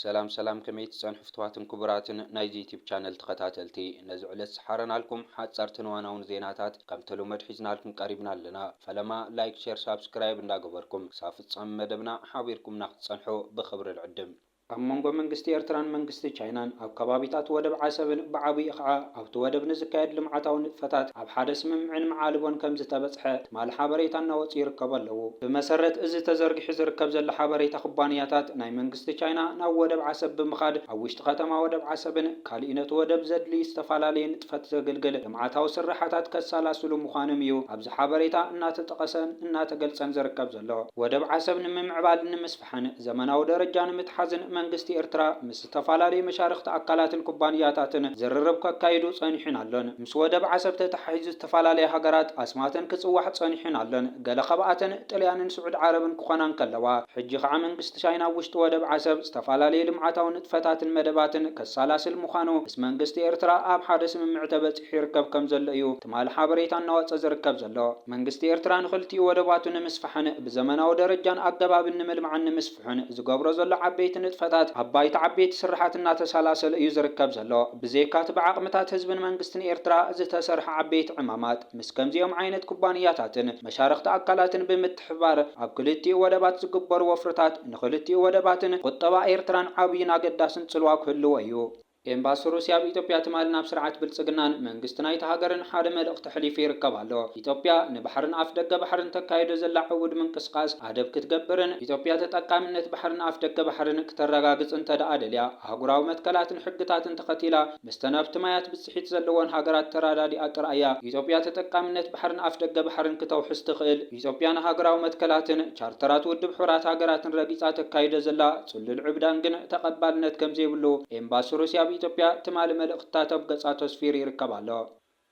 ሰላም ሰላም ከመይ ትጸንሑ ፍትዋትን ኩቡራትን ናይዚ ዩቲብ ቻነል ተኸታተልቲ ነዚ ዕለት ዝሓረናልኩም ሓጻርትን እዋናውን ዜናታት ከም ተለመዱ ሒዝናልኩም ቀሪብና ኣለና ፈለማ ላይክ ሸር ሳብስክራይብ እንዳ ገበርኩም ክሳብ ፍጻመ መደብና ሓቢርኩምና ክትጸንሑ ብኽብሪ ንዕድም። ኣብ መንጎ መንግስቲ ኤርትራን መንግስቲ ቻይናን ኣብ ከባቢታት ወደብ ዓሰብን ብዓብይኡ ከኣ ኣብ። ኣብቲ ወደብ ንዝካየድ ልምዓታዊ ንጥፈታት ኣብ ሓደ ስምምዕን መዓልቦን ከምዝተበፅሐ ትማሊ ሓበሬታ እናወፅኡ ይርከቡ ኣለዉ። ብመሰረት እዚ ተዘርጊሑ ዝርከብ ዘሎ ሓበሬታ ኩባንያታት ናይ መንግስቲ ቻይና ናብ ወደብ ዓሰብ ብምኻድ ኣብ ውሽጢ ከተማ ወደብ ዓሰብን ካሊእ ነቲ ወደብ ዘድልይ ዝተፈላለየ ንጥፈት ዘግልግል ልምዓታዊ ስርሓታት ከሳላስሉ ምዃኖም እዩ ኣብዚ ሓበሬታ እናተጠቐሰን እናተገልፀን ዝርከብ ዘሎ። ወደብ ዓሰብ ንምምዕባልን ንምስፍሓን ዘመናዊ ደረጃ ንምትሓዝን መንግስቲ ኤርትራ ምስ ዝተፈላለዩ መሻርኽቲ ኣካላትን ኩባንያታትን ዝርርብ ከካይዱ ጸኒሑን ኣሎን። ምስ ወደብ ዓሰብ ተተሓሒዙ ዝተፈላለያ ሃገራት ኣስማተን ክጽዋዕ ጸኒሑን ኣሎን። ገለ ካብኣተን ጥልያንን ስዑድ ዓረብን ክኾና እንከለዋ፣ ሕጂ ከኣ መንግስቲ ቻይና ኣብ ውሽጢ ወደብ ዓሰብ ዝተፈላለዩ ልምዓታዊ ንጥፈታትን መደባትን ከሳላስል ምዃኑ ምስ መንግስቲ ኤርትራ ኣብ ሓደ ስምምዕ ተበጺሑ ይርከብ ከምዘሎ እዩ ትማሊ ሓበሬታ እናወጸ ዝርከብ ዘሎ። መንግስቲ ኤርትራ ንኽልቲኡ ወደባቱ ንምስፋሕን ብዘመናዊ ደረጃን ኣገባብን ንምልማዕን ንምስፋሕን፣ ዝሑን ዝገብሮ ዘሎ ዓበይቲ ንጥፈታት ኣብ ባይታ ዓበይቲ ስርሓት እናተሰላሰለ እዩ ዝርከብ ዘሎ። ብዘይካ'ቲ ብዓቕምታት ህዝብን መንግስትን ኤርትራ ዝተሰርሐ ዓበይቲ ዕማማት፣ ምስ ከምዚኦም ዓይነት ኩባንያታትን መሻርኽቲ ኣካላትን ብምትሕብባር ኣብ ክልቲኡ ወደባት ዝግበሩ ወፍርታት ንክልቲኡ ወደባትን ቁጠባ ኤርትራን ዓብይን ኣገዳስን ጽልዋ ክህልዎ እዩ። ኤምባሲ ሩስያ ኣብ ኢትዮጵያ ትማሊ ናብ ስርዓት ብልጽግናን መንግስቲ ናይታ ሃገርን ሓደ መልእኽቲ ኣሕሊፉ ይርከብ ኣሎ። ኢትዮጵያ ንባሕርን ኣፍደገ ባሕርን ተካይዶ ዘላ ዕውድ ምንቅስቓስ ኣደብ ክትገብርን ኢትዮጵያ ተጠቃሚነት ባሕርን ኣፍደገ ባሕርን ክተረጋግጽ እንተደኣ ደልያ ኣህጉራዊ መትከላትን ሕግታትን ተኸቲላ ምስተን ኣብቲ ማያት ብጽሒት ዘለወን ሃገራት ተራዳዲኣ ጥራይ እያ ኢትዮጵያ ተጠቃሚነት ባሕርን ኣፍደገ ባሕርን ክተውሕስ ትኽእል። ኢትዮጵያ ንሃገራዊ መትከላትን ቻርተራት ውድብ ሕቡራት ሃገራትን ረጊጻ ተካይዶ ዘላ ጽሉል ዕብዳን ግን ተቐባልነት ከም ዘይብሉ ኤምባሲ ሩስያ ኣብ ኢትዮጵያ ትማሊ መልእኽትታት ኣብ ገጻቱ ኣስፊሩ ይርከብ ኣሎ።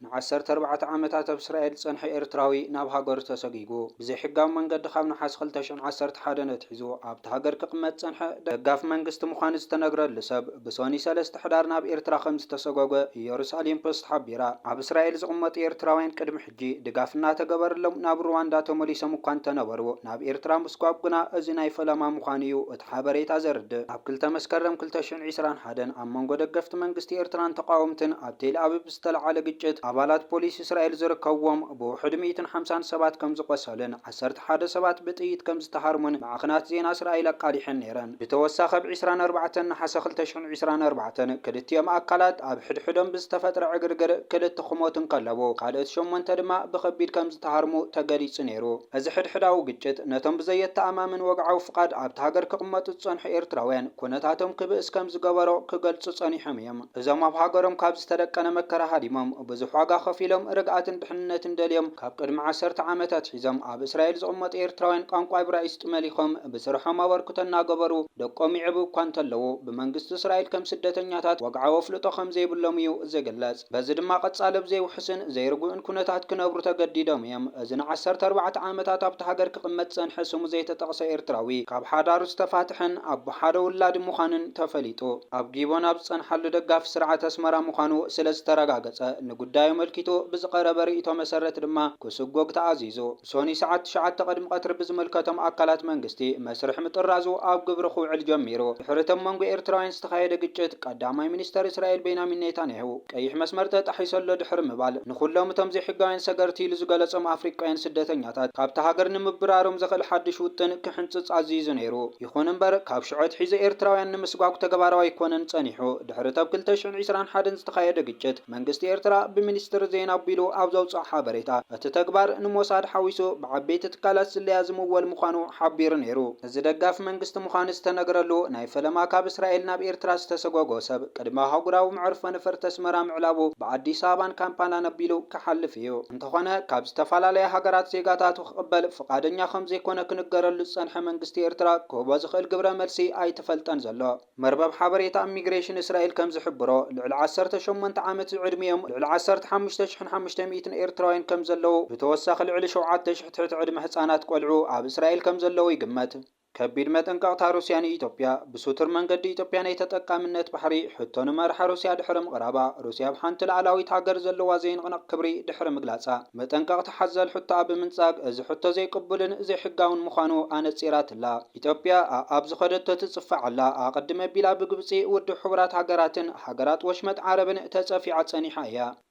ንዓሰርተ ኣርባዕተ ዓመታት ኣብ እስራኤል ዝጸንሐ ኤርትራዊ ናብ ሃገሩ ተሰጒጉ ብዘይሕጋዊ መንገዲ ካብ ነሓሰ ክልተ ሽሕን ዓሰርተ ሓደን ኣትሒዙ ኣብታ ሃገር ክቕመጥ ዝጸንሐ ደጋፊ መንግስቲ ምዃኑ ዝተነግረሉ ሰብ ብሰኑይ ሰለስተ ሕዳር ናብ ኤርትራ ከምዝተሰጐጐ ኢየሩሳሌም ፖስት ሓቢራ። ኣብ እስራኤል ዝቕመጡ ኤርትራውያን ቅድሚ ሕጂ ድጋፍ እናተገበረሎም ናብ ሩዋንዳ ተመሊሶም እኳ እንተነበሩ፣ ናብ ኤርትራ ምስጓግ ግና እዚ ናይ ፈለማ ምዃኑ እዩ እቲ ሓበሬታ ዘርድእ። ኣብ ክልተ መስከረም ክልተ ሽሕን ዒስራን ሓደን ኣብ መንጎ ደገፍቲ መንግስቲ ኤርትራን ተቓወምትን ኣብ ቴልኣቪቭ ዝተልዓለ ግጭት፣ ኣባላት ፖሊስ እስራኤል ዝርከብዎም ብውሕዱ ሚእትን ሓምሳን ሰባት ከምዝቖሰሉን፣ ዓሰርተ ሓደ ሰባት ብጥይት ከም ዝተሃርሙን ማዕኸናት ዜና እስራኤል ኣቃሊሐን ነይረን። ብተወሳኺ ኣብ ዕስራን ኣርባዕተን ነሓሰ ክልተ ሽሕን ዕስራን ኣርባዕተን ክልቲኦም ኣካላት ኣብ ሕድሕዶም ብዝተፈጥረ ዕግርግር ክልተ ክሞቱ እንከለዉ ካልኦት ሸሞንተ ድማ ብኸቢድ ከም ዝተሃርሙ ተገሊጹ ነይሩ። እዚ ሕድሕዳዊ ግጭት ነቶም ብዘየተኣማምን ወግዓዊ ፍቓድ ኣብታ ሃገር ክቕመጡ ዝጸንሑ ኤርትራውያን ኩነታቶም ክብእስ ከም ዝገበሮ ክገልጹ ጸኒሖም እዮም። እዞም ኣብ ሃገሮም ካብ ዝተደቀነ መከራ ሃዲሞም ብዙሕ ዋጋ ከፊሎም ርግኣትን ድሕንነትን ደልዮም ካብ ቅድሚ ዓሰርተ ዓመት ኣትሒዞም ኣብ እስራኤል ዝቕመጡ ኤርትራውያን ቋንቋ እብራይስጥ መሊኾም ብስርሖም ኣበርክቶ እናገበሩ ደቆም ይዕብዩ እኳ እንተለዉ ብመንግስቲ እስራኤል ከም ስደተኛታት ወግዓዊ ኣፍልጦ ከም ዘይብሎም እዩ ዝግለጽ። በዚ ድማ ቀጻሊ ኣብ ዘይውሑስን ዘይርጉእን ኩነታት ክነብሩ ተገዲዶም እዮም። እዚ ንዓሰርተ ኣርባዕተ ዓመታት ኣብታ ሃገር ክቕመጥ ዝጸንሐ ስሙ ዘይተጠቕሰ ኤርትራዊ ካብ ሓዳሩ ዝተፋትሐን ኣቦ ሓደ ውላዲ ምዃኑን ተፈሊጡ። ኣብ ጊቦን ኣብ ዝጸንሓሉ ደጋፊ ስርዓት ኣስመራ ምዃኑ ስለ ዝተረጋገጸ፣ ንጉዳዩ ኣመልኪቱ ብዝቐረበ ርእይቶ መሰረት ድማ ክስጎግ ተኣዚዙ። ብሶኑይ ሰዓት ትሽዓተ ቅድሚ ቀትሪ ብዝምልከቶም ኣካላት መንግስቲ መስርሕ ምጥራዙ ኣብ ግብሪ ክውዕል ጀሚሩ። ድሕሪ'ቲ ኣብ መንጎ ኤርትራውያን ዝተኻየደ ግጭት፣ ቀዳማይ ሚኒስተር እስራኤል ቤንያሚን ኔታንያሁ፣ ቀይሕ መስመር ተጣሒሱ ኣሎ ድሕሪ ምባል፣ ንኹሎም እቶም ዘይሕጋውያን ሰገርቲ ኢሉ ዝገለጾም ኣፍሪቃውያን ስደተኛታት ካብታ ሃገር ንምብራሮም ዘኽእል ሓድሽ ውጥን ክሕንጽጽ ኣዚዙ ነይሩ። ይኹን እምበር ካብ ሽዑ ኣትሒዙ ኤርትራውያን ንምስጓጕ ተግባራዊ ኣይኮነን ጸኒሑ። ድሕሪ'ቲ ኣብ ክልተ ሽሕን ዕስራን ሓደን ዝተኻየደ ግጭት፣ መንግስቲ ኤርትራ ብሚኒስትሪ ዜና ኣቢሉ ኣብ ዘውጽኦ ሓበሬታ፣ እቲ ተግባር ንሞሳድ ሓዊሱ ብዓበይቲ ትካላት ስለያ ዝምወል ምዃኑ ሓቢሩ ነይሩ። እዚ ደጋፊ መንግስቲ ምዃኑ ዝተነግረሉ፣ ናይ ፈለማ ካብ እስራኤል ናብ ኤርትራ ዝተሰጐጐ ሰብ፣ ቅድሚ ኣህጉራዊ መዕርፎ ነፈርቲ ኣስመራ ምዕላቡ፣ ብኣዲስ ኣበባን ካምፓላን ኣቢሉ ክሓልፍ እዩ። እንተኾነ ካብ ዝተፈላለያ ሃገራት ዜጋታቱ፣ ክቕበል ፍቓደኛ ከም ዘይኮነ ክንገረሉ ዝጸንሐ መንግስቲ ኤርትራ ክህቦ ዝኽእል ግብረ መልሲ ኣይተፈልጠን ዘሎ። መርበብ ሓበሬታ ኢሚግሬሽን እስራኤል ከም ዝሕብሮ፣ ልዕሊ ዓሰርተ ሸሞንተ ዓመት ዝዕድሚኦም ልዕሊ ዓሰርተ ሓሙሽተ ሽሕን ሓሙሽተ ሚእትን ኤርትራውያን ከም ዘለዉ፣ ብተወሳኺ ልዕሊ ሸውዓተ ሽሕ ትሕቲ ዕድመ ህጻናት ቆልዑ ኣብ እስራኤል ከም ዘለዉ ይግመት። ከቢድ መጠንቀቕታ ሩስያ ንኢትዮጵያ፣ ብሱቱር መንገዲ ኢትዮጵያ ናይ ተጠቃምነት ባሕሪ ሕቶ ንመራሒ ሩስያ ድሕሪ ምቕራባ፣ ሩስያ ኣብ ሓንቲ ልኣላዊት ሃገር ዘለዋ ዘይንቕነቕ ክብሪ ድሕሪ ምግላጻ፣ መጠንቀቕታ ሓዘል ሕቶኣ ብምንጻግ፣ እዚ ሕቶ ዘይቅቡልን ዘይሕጋውን ምዃኑ ኣነጺራትላ። ኢትዮጵያ ኣኣብ ዝኸደቶ ትጽፋዕ ኣላ፣ ኣቐድም ኣቢላ ብግብጺ፣ ውድብ ሕቡራት ሃገራትን ሃገራት ወሽመጥ ዓረብን ተጸፊዓ ጸኒሓ እያ።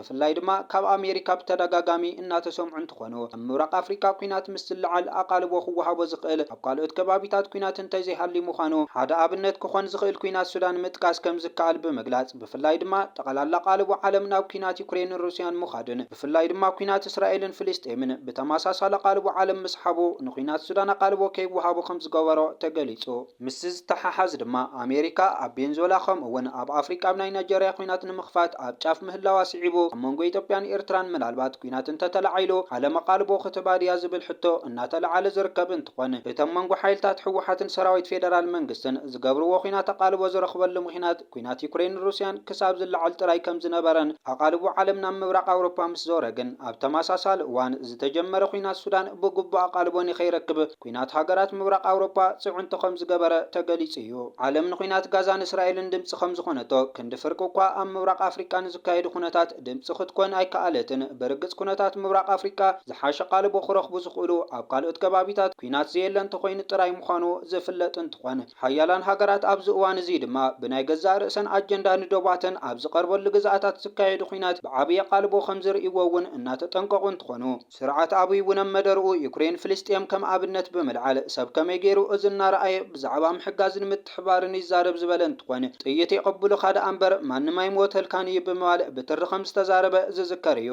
ብፍላይ ድማ ካብ ኣሜሪካ ብተደጋጋሚ እናተሰምዑ እንትኾኑ፣ ኣብ ምብራቕ ኣፍሪካ ኲናት ምስ ዝለዓል ኣቓልቦ ክወሃቦ ዝኽእል ኣብ ካልኦት ከባቢታት ኲናት እንተዘይሃልዩ ምዃኑ ሓደ ኣብነት ክኾን ዝኽእል ኲናት ሱዳን ምጥቃስ ከምዝከኣል ብምግላፅ ብፍላይ ድማ ጠቐላላ ኣቓልቦ ዓለም ናብ ኲናት ዩክሬንን ሩሲያን ምዃድን ብፍላይ ድማ ኲናት እስራኤልን ፍልስጤምን ብተመሳሳሊ ኣቓልቦ ዓለም ምስሓቡ ንኲናት ሱዳን ኣቓልቦ ከይወሃቦ ከምዝገበሮ ተገሊፁ። ምስዚ ዝተሓሓዝ ድማ ኣሜሪካ ኣብ ቬንዙዌላ ከምኡ እውን ኣብ ኣፍሪቃ ብ ናይ ናይጀርያ ኲናት ንምኽፋት ኣብ ጫፍ ምህላዋ ስዒቡ ኣብ መንጎ ኢትዮጵያን ኤርትራን ምናልባት ኲናት እንተተላዒሉ ዓለም ኣቓልቦ ክትህባ ድያ ዝብል ሕቶ እናተለዓለ ዝርከብ እንትኾን እቲ ኣብ መንጎ ሓይልታት ህወሓትን ሰራዊት ፌደራል መንግስትን ዝገብርዎ ኲናት ኣቓልቦ ዝረኽበሉ ምኽንያት ኲናት ዩክሬንን ሩስያን ክሳብ ዝለዓል ጥራይ ከምዝነበረን ኣቓልቦ ዓለም ናብ ምብራቕ ኣውሮፓ ምስዞረ ግን ኣብ ተመሳሳሊ እዋን ዝተጀመረ ኲናት ሱዳን ብግቡእ ኣቓልቦ ንከይረክብ ኲናት ሃገራት ምብራቕ ኣውሮጳ ጽዕንቶ ከም ዝገበረ ተገሊጹ እዩ። ዓለም ንኲናት ጋዛን እስራኤልን ድምጺ ከም ዝኾነቶ፣ ክንዲ ፍርቂ እኳ ኣብ ምብራቕ ኣፍሪቃ ንዝካየዱ ኩነታት ድምጺ ክትኮን ኣይከኣለትን። ብርግጽ ኩነታት ምብራቕ ኣፍሪቃ ዝሓሸ ቓልቦ ክረኽቡ ዝኽእሉ ኣብ ካልኦት ከባቢታት ኲናት ዘየለ እንተኾይኑ ጥራይ ምዃኑ ዝፍለጥ እንትኾን፣ ሓያላን ሃገራት ኣብዚ እዋን እዚ ድማ ብናይ ገዛእ ርእሰን ኣጀንዳ ንዶባተን ኣብ ዝቐርበሉ ግዝኣታት ዝካየዱ ኲናት ብዓቢ ኣቓልቦ ከም ዝርእይዎ እውን እናተጠንቀቑ እንትኾኑ፣ ስርዓት ኣብይ እውን ኣብ መደርኡ ዩክሬን ፍልስጤም ከም ኣብነት ብምልዓል ሰብ ከመይ ገይሩ እዚ እናረኣየ ብዛዕባ ምሕጋዝን ምትሕብባርን ይዛረብ ዝበለ እንትኾን ጥይት የቐብሉኻ ደኣ እምበር ማንም ኣይሞተልካን እዩ ብምባል ብትሪ ከምዝተዛረበ ዝዝከር እዩ።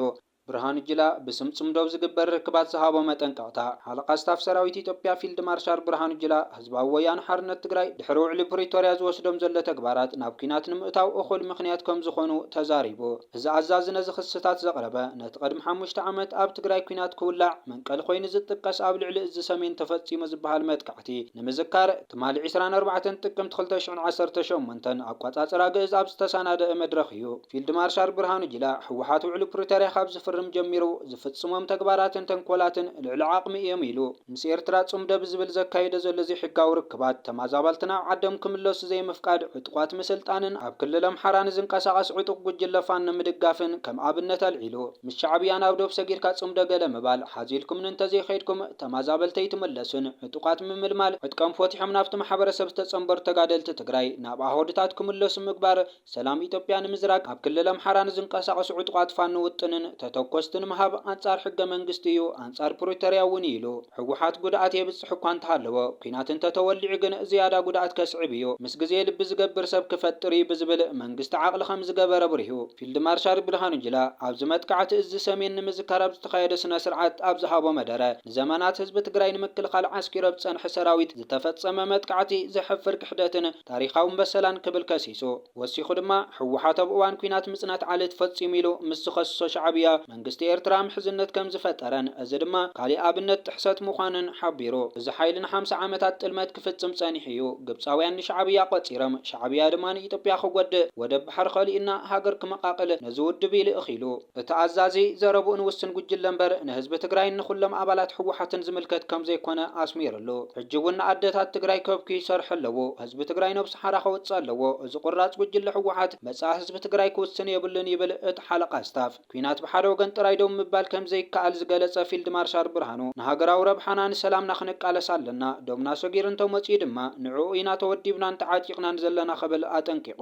ብርሃኑ ጁላ ብስም ፅምዶ ኣብ ዝግበር ርክባት ዝሃቦ መጠንቀቕታ። ሓለቓ ስታፍ ሰራዊት ኢትዮጵያ ፊልድ ማርሻል ብርሃኑ ጁላ፣ ህዝባዊ ወያነ ሓርነት ትግራይ ድሕሪ ውዕሊ ፕሪቶርያ ዝወስዶም ዘሎ ተግባራት ናብ ኲናት ንምእታው እኹል ምኽንያት ከምዝኾኑ ተዛሪቡ። እዚ ኣዛዚ ነዚ ክስታት ዘቕረበ ነቲ ቅድሚ ሓሙሽተ ዓመት ኣብ ትግራይ ኲናት ክውላዕ መንቀሊ ኮይኑ ዝጥቀስ ኣብ ልዕሊ እዝ ሰሜን ተፈፂሙ ዝበሃል መጥቃዕቲ ንምዝካር ትማሊ ዕስራን ኣርባዕተን ጥቅምቲ ክልተ ሽሕን ዓሰርተ ሸሞንተን ኣቋፃፅራ ግእዝ ኣብ ዝተሰናደኣ መድረኽ እዩ። ፊልድ ማርሻል ብርሃኑ ጁላ ህወሓት ውዕሊ ፕሪቶርያ ካብ ዝፍርም ጀሚሩ ዝፍፅሞም ተግባራትን ተንኮላትን ልዕሊ ዓቕሚ እዮም ኢሉ። ምስ ኤርትራ ጽምዶ ብዝብል ዘካይዶ ዘሎ ዘይሕጋዊ ርክባት፣ ተማዛባልቲ ናብ ዓዶም ክምለሱ ዘይምፍቃድ፣ ዕጡቋት ምስልጣንን ኣብ ክልል ኣምሓራ ንዝንቀሳቐስ ዕጡቕ ጉጅለ ፋኖ ምድጋፍን ከም ኣብነት ኣልዒሉ። ምስ ሻዕብያ ናብ ዶብ ሰጊርካ ጽምዶ ገለ ምባል፣ ሓዚልኩምኒ እንተዘይከይድኩም ተማዛበልቲ ኣይትምለሱን፣ ዕጡቓት ምምልማል፣ ዕጥቀም ፎቲሖም ናብቲ ማሕበረሰብ ዝተጸንበሩ ተጋደልቲ ትግራይ ናብ ኣሃዱታት ክምለሱ ምግባር፣ ሰላም ኢትዮጵያ ንምዝራግ ኣብ ክልል ኣምሓራ ንዝንቀሳቐሱ ዕጡቓት ፋኖ ውጥንን ተተኮስትን ምሃብ ኣንፃር ሕገ መንግስቲ እዩ፣ ኣንፃር ፕሪቶርያ እውን እዩ ኢሉ። ህወሓት ጉድኣት የብፅሕ እኳ እንተሃለወ ኲናት እንተተወሊዑ ግን ዝያዳ ጉድኣት ከስዕብ እዩ፣ ምስ ግዜ ልቢ ዝገብር ሰብ ክፈጥር እዩ ብዝብል መንግስቲ ዓቕሊ ከምዝገበረ ኣብሪሁ። ፊልድ ማርሻል ብርሃኑ ጁላ ኣብዚ መጥቃዕቲ እዝ ሰሜን ንምዝካር ኣብ ዝተኻየደ ስነ ስርዓት ኣብ ዝሃቦ መደረ ንዘመናት ህዝቢ ትግራይ ንምክልኻል ዓስኪሩ ኣብ ዝፀንሐ ሰራዊት ዝተፈፀመ መጥቃዕቲ ዘሕፍር ክሕደትን ታሪኻውን በሰላን ክብል ከሲሱ። ወሲኹ ድማ፣ ህወሓት ኣብ እዋን ኲናት ምጽናት ዓሌት ፈጺሙ ኢሉ ምስ ዝኸስሶ ሻዕብያ፣ መንግስቲ ኤርትራ ምሕዝነት ከም ዝፈጠረን እዚ ድማ ካሊእ ኣብነት ጥሕሰት ምዃኑን ሓቢሩ። እዚ ሓይሊ ንሓምሳ ዓመታት ጥልመት ክፍጽም ጸኒሑ እዩ። ግብጻውያን ንሻዕብያ ቆጺርም፣ ሻዕብያ ድማ ንኢትዮጵያ ክጎድእ፣ ወደብ ባሕሪ ከሊኡና ሃገር ክመቓቕል ነዚ ውድብ ኢሉ እኺሉ። እቲ ኣዛዚ ዘረብኡን ውስን ጉጅለ እምበር ንህዝቢ ትግራይን ንኹሎም ኣባላት ህወሓትን ዝምልከት ከምዘይኮነ ኣስሚርሉ። ሕጂ እውን ንኣደታት ትግራይ ከብክዩ ይሰርሑ ኣለዉ። ህዝቢ ትግራይ ነብሱ ሓራ ከውፅእ ኣለዎ። እዚ ቁራፅ ጉጅለ ህወሓት መፃኢ ህዝቢ ትግራይ ክውስን የብሉን ይብል እቲ ሓለቓ ስታፍ። ኲናት ብሓደ ወገን ጥራይ ደው ምባል ከምዘይከኣል ዝገለፀ ፊልድ ማርሻል ብርሃኑ ንሃገራዊ ረብሓና ንሰላምና ክንቃለስ ኣለና። ዶብና ሰጊሩ እንተመፂኡ ድማ ንዕኡ ኢና ተወዲብናን ተዓጢቕናን ዘለና ክብል ኣጠንቂቑ።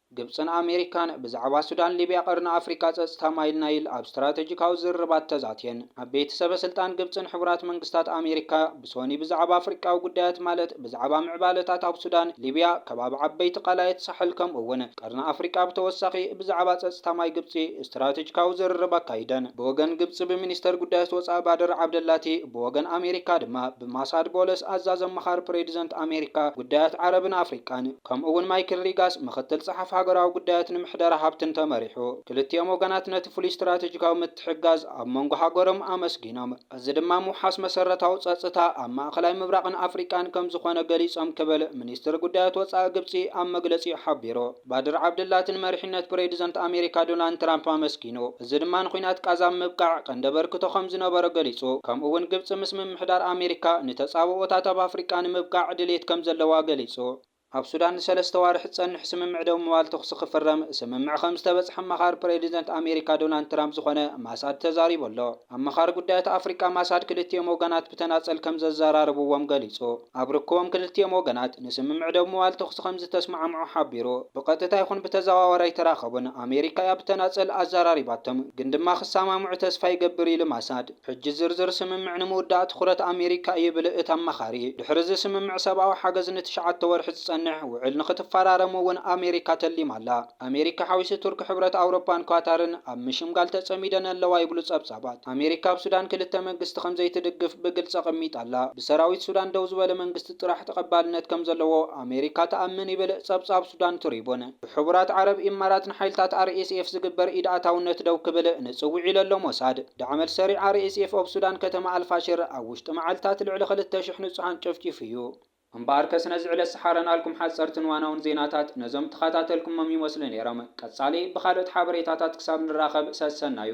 ግብጽን ኣሜሪካን ብዛዕባ ሱዳን፣ ሊብያ፣ ቀርኒ ኣፍሪቃ፣ ጸጽታ ማይል ናይል ኣብ ስትራተጂካዊ ዝርርባት ተዛትየን። ዓበይቲ ሰበስልጣን ግብጽን ሕቡራት መንግስታት ኣሜሪካ ብሶኒ ብዛዕባ ኣፍሪቃዊ ጉዳያት ማለት ብዛዕባ ምዕባለታት ኣብ ሱዳን፣ ሊብያ፣ ከባቢ ዓበይቲ ቀላያት ሳሕል ከምኡ'ውን ቀርኒ ኣፍሪቃ ብተወሳኺ ብዛዕባ ጸጽታ ማይ ግብጺ ስትራተጂካዊ ዝርርብ ኣካይደን። ብወገን ግብጺ ብሚኒስተር ጉዳያት ወጻኢ ባድር ዓብደላቲ ብወገን ኣሜሪካ ድማ ብማሳድ ቦለስ ኣዛዚ ኣማኻሪ ፕሬድዘንት ኣሜሪካ ጉዳያት ዓረብን ኣፍሪቃን፣ ከምኡ'ውን ማይክል ሪጋስ፣ ምኽትል ጸሓፊ ሃገራዊ ጉዳያትን ምሕደራ ሃብትን ተመሪሑ። ክልቲኦም ወገናት ነቲ ፍሉይ ስትራተጂካዊ ምትሕግጋዝ ኣብ መንጎ ሃገሮም ኣመስጊኖም፣ እዚ ድማ ምውሓስ መሰረታዊ ጸጽታ ኣብ ማእከላይ ምብራቕን ኣፍሪቃን ከምዝኾነ ገሊጾም ክብል ሚኒስትሪ ጉዳያት ወጻኢ ግብጺ ኣብ መግለጺኡ ሓቢሩ። ባድር ዓብድላቲ ንመሪሕነት ፕሬድዘንት ኣሜሪካ ዶናልድ ትራምፕ ኣመስጊኑ። እዚ ድማ ንኲናት ቓዛ ኣብ ምብቃዕ ቀንዲ ኣበርክቶ ከም ዝነበሮ ገሊጹ። ከምኡ'ውን ግብጺ ምስ ምምሕዳር ኣሜሪካ ንተጻብኦታት ኣብ ኣፍሪቃ ንምብቃዕ ድልየት ከም ዘለዋ ገሊጹ። ኣብ ሱዳን ንሰለስተ ኣዋርሕ ዝጸንሕ ስምምዕ ደው ምባል ተዅሲ ክፍረም ስምምዕ ከም ዝተበጽሐ ኣማኻሪ ፕሬዚደንት ኣሜሪካ ዶናልድ ትራምፕ ዝኾነ ማሳድ ተዛሪቡ ኣሎ። ኣማኻሪ ጉዳያት ኣፍሪቃ ማሳድ ክልቲኦም ወገናት ብተናጸል ከም ዘዘራርብዎም ገሊጹ። ኣብ ርክቦም ክልቲኦም ወገናት ንስምምዕ ደው ምባል ተኹሲ ከምዝተስማዕምዑ ሓቢሩ። ብቐጥታ ይኹን ብተዘዋዋሪ ኣይተራኸቡን፣ ኣሜሪካ እያ ብተናጸል ኣዘራሪባቶም፣ ግን ድማ ክሰማምዑ ተስፋ ይገብር ኢሉ ማሳድ። ሕጂ ዝርዝር ስምምዕ ንምውዳእ ትኹረት ኣሜሪካ እዩ ይብል እቲ ኣማኻሪ። ድሕሪ'ዚ ስምምዕ ሰብኣዊ ሓገዝ ንትሽዓተ ወርሒ ዝጸንሕ ውዕል ንኽትፈራረም'ውን ኣሜሪካ ተሊማ ኣላ። ኣሜሪካ ሓዊሱ ቱርኪ ሕብረት ኣውሮፓን ኳታርን ኣብ ምሽምጋል ተጸሚደን ኣለዋ ይብሉ ጸብጻባት። ኣሜሪካ ኣብ ሱዳን ክልተ መንግስቲ ከምዘይትድግፍ ብግልጺ ኣቐሚጣ ኣላ። ብሰራዊት ሱዳን ደው ዝበለ መንግስቲ ጥራሕ ተቐባልነት ከምዘለዎ ኣሜሪካ ትኣምን ይብል ጸብጻብ ሱዳን ትሪቡን። ብሕቡራት ዓረብ ኢማራት ንሓይልታት RSF ዝግበር ኢድኣታውነት ደው ክብል ንጽውዕ ኢሉ'ሎ ሞሳድ። ዳዕመል ሰሪዕ RSF ኦብ ሱዳን ከተማ ኣልፋሽር ኣብ ውሽጢ መዓልታት ልዕሊ ክልተ ሽሕ ንጹሃን ጨፍጪፉ'ዩ። እምበኣርከ ስነዚ ዕለት ሰሓረናልኩም ሓጸርትን ዋናውን ዜናታት ነዞም ተኻታተልኩሞም ይመስሉ ኔሮም ቀጻሊ ብኻልኦት ሓበሬታታት ክሳብ ንራኸብ ሰሰናዩ።